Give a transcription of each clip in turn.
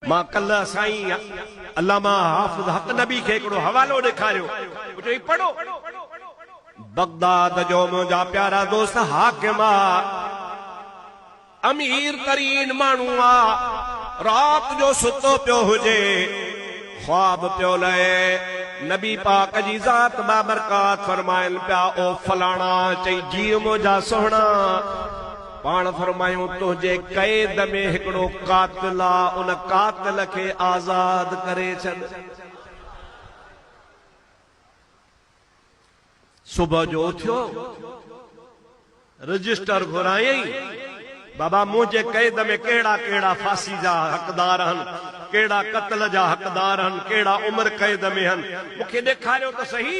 مان ڪلهه سائين علامه حافظ حق نبي کي هڪڙو حوالو ڏيکاريو، مون چيو هي پڙهو. بغداد جو منهنجا پيارا دوست حاڪم آ، امير ترين ماڻهو آ، رات جو ستو پيو هجي، خواب پيو لهي، نبي پاڪ جي ذات بابرڪات فرمائن پيا، او فلاڻا! چئي جيء منهنجا سهڻا! پاڻ فرمايون تنهنجي قيد ۾ هڪڙو قاتل آ ان قاتل کي آزاد ڪري ڇڏ. صبح جو اٿيو رجسٽر گهرايائين بابا منهنجي قيد ۾ ڪهڙا ڪهڙا ڦاسي جا حقدار هن ڪهڙا قتل جا حقدار هن ڪهڙا عمر قيد ۾ هن مون کي ڏيکاريو ته سهي.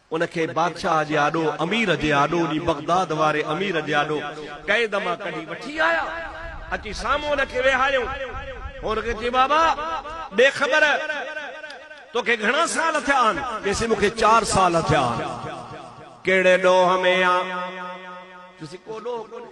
ان کي بادشاهه جي آڏو، امير جي آڏو جي بغداد واري امير جي آڏو قيد مان ڪڍي وٺي آيا. اچي سامهون ان کي ويهاريائون. هن کي چيو، بابا! ڏي خبر، توکي گهڻا سال ٿيا آهن؟ چيسين، مون کي چار سال ٿيا آهن. ڪهڙي ڏوهه ۾ آن؟ چيسين، ڪو ڏوهه ڪونهي.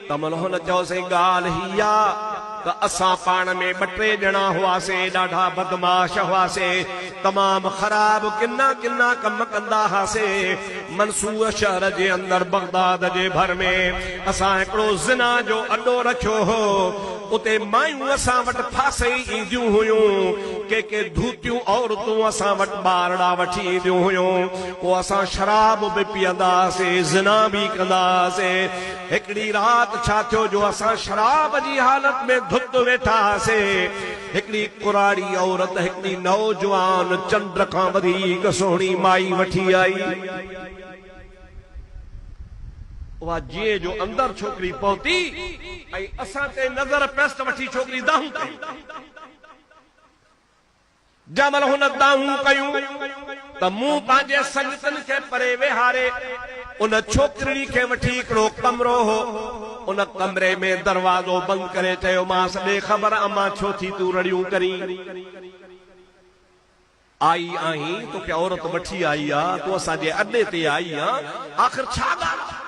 ته ملهن چيو سائين ڳالهه هي آ ته اسان پاڻ ۾ ٻه ٽي ڄڻا هئاسين ڏاڍا بدمعاش هئاسين تمام خراب ڪنا ڪنا ڪم ڪندا هئاسين منصور شهر جي اندر بغداد جي ڀر ۾ اسان هڪڙو زنا جو اڏو رکيو هو اتي مايون اسان وٽ ڦاسي اينديون هيون ڪي ڪي ڌوتيون عورتون اسان وٽ ٻارڙا وٺي اينديون هيون پوء اسان شراب به پيئندا هئاسين زنا به ڪندا هئاسين هڪڙي رات ڇا ٿيو جو اسان شراب جي حالت ۾ ڌت ويٺا هئاسين. هڪڙي ڪراڙي عورت هڪڙي نوجوان چنڊ کان وڌيڪ سهڻي مائي وٺي آئي. اها جيئن جو اندر ڇوڪري پهتي ۽ اسان تي نظر پيس ته وٺي ڇوڪري دانهون ڪيون. جنهن مهل هن دانهون ڪيون ته مون پنهنجي سنگتن کي پري ويهاري ان ڇوڪرڙي کي وٺي هڪڙو ڪمرو هو ان ڪمري ۾ دروازو بند ڪري چيومانس ڏي خبر امان ڇو ٿي تون رڙيون ڪرين آئي آهين توکي عورت وٺي آئي آ تون اسان جي اڏي تي آئي آن آخر ڇا ڳالهه آ.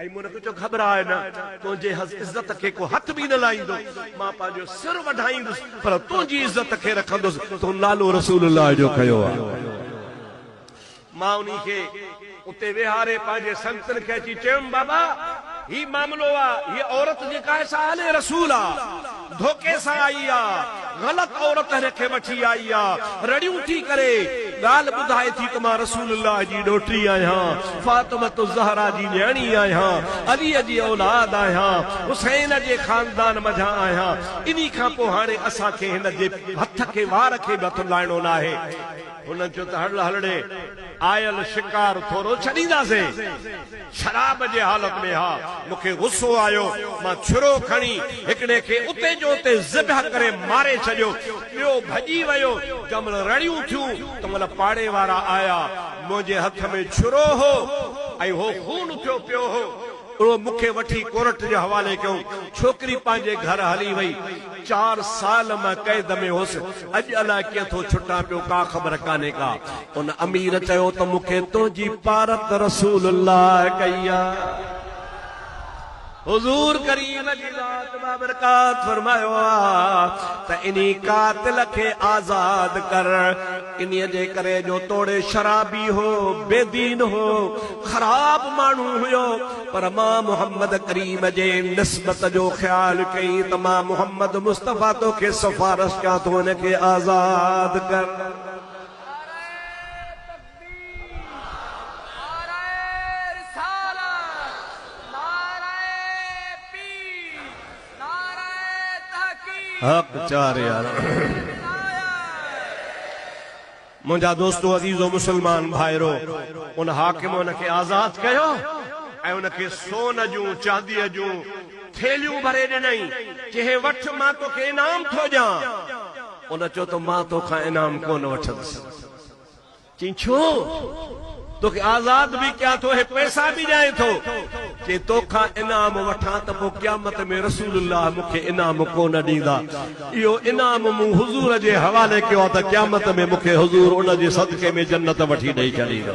اي مون کي چو خبر آهي نه، تنهنجي عزت کي ڪو هٿ به نه لائيندو، مان پنهنجو سر وڍائيندس پر تنهنجي عزت کي رکندس، تون نالو رسول الله جو کنيو آهي. مان انهي کي اتي ويهاري پنهنجي سنگتن کي اچي چيم، بابا! هي معاملو آ، هيء عورت جيڪا آهي سا آل رسول آ، ڌوڪي سان آئي آ، غلط عورت هر کي وٺي آئي آ، رڙيون ٿي ڪري، ڳالهه ٻڌائي ٿي ته مان رسول الله جي ڏوهٽي آهيان، فاطمة الزهراء جي نياڻي آهيان، علي جي اولاد آهيان، حسين جي خاندان منجهان آهيان، انهي کان پوء هاڻي اسان کي هن جي هٿ کي وار کي به هٿ لائڻو ناهي. هن چيو ته هڙ هڙي آيل شڪار ٿورو ڇڏينداسين. شراب جي حالت ۾ ها. مون کي غصو آيو. مان ڇرو کڻي هڪڙي کي اتي جو اتي ذبح ڪري ماري ڇڏيو. ٻيو ڀڄي ويو. جنهن مهل رڙيون ٿيون تنهن مهل پاڙي وارا آيا. منهنجي هٿ ۾ ڇرو هو ۽ هو خون اٿيو پيو هو. اهو مون کي وٺي ڪورٽ جي حوالي ڪيو. ڇوڪري پنهنجي گهر هلي وئي. چار سال مان قيد ۾ هوس، اڄ الاء ڪيئن ٿو ڇٽان پيو، ڪا خبر ڪانهي ڪا. ان امير چيو ته مون کي تنهنجي پارت رسول الله ڪئي آ. حضور ڪريم جي ذات بابرڪات فرمايو آ ته انهي قاتل کي آزاد ڪر. انهيء جي ڪري جو توڙي شرابي هو، بي دين هو، خراب ماڻهو هيو، پر مان محمد ڪريم جي نسبت جو خيال ڪيئي ته مان محمد مصطفيٰ توکي سفارش ڪيان ٿو هن کي آزاد ڪر. حق چار يار منهنجا دوستو عزيزو مسلمان ڀائرو ان حاڪم ان کي آزاد ڪيو ۽ ان کي سون جون چانديء جون ٿيلهيون ڀري ڏنائين چي هي وٺ مان توکي انعام ٿو ڏيان ان چيو ته مان توکان انعام ڪونه وٺندس. چيائين، ڇو؟ توکي آزاد به ڪيان ٿو ۽ پئسا به ڏيان ٿو. چيائين، توکان انعام وٺان ته پوء قيامت ۾ رسول الله مون کي انعام ڪو نه ڏيندا. اهو انعام مون حضور جي حوالي ڪيو آهي ته قيامت ۾ مون کي حضور ان جي صدقي ۾ جنت وٺي ڏئي ڇڏيندو.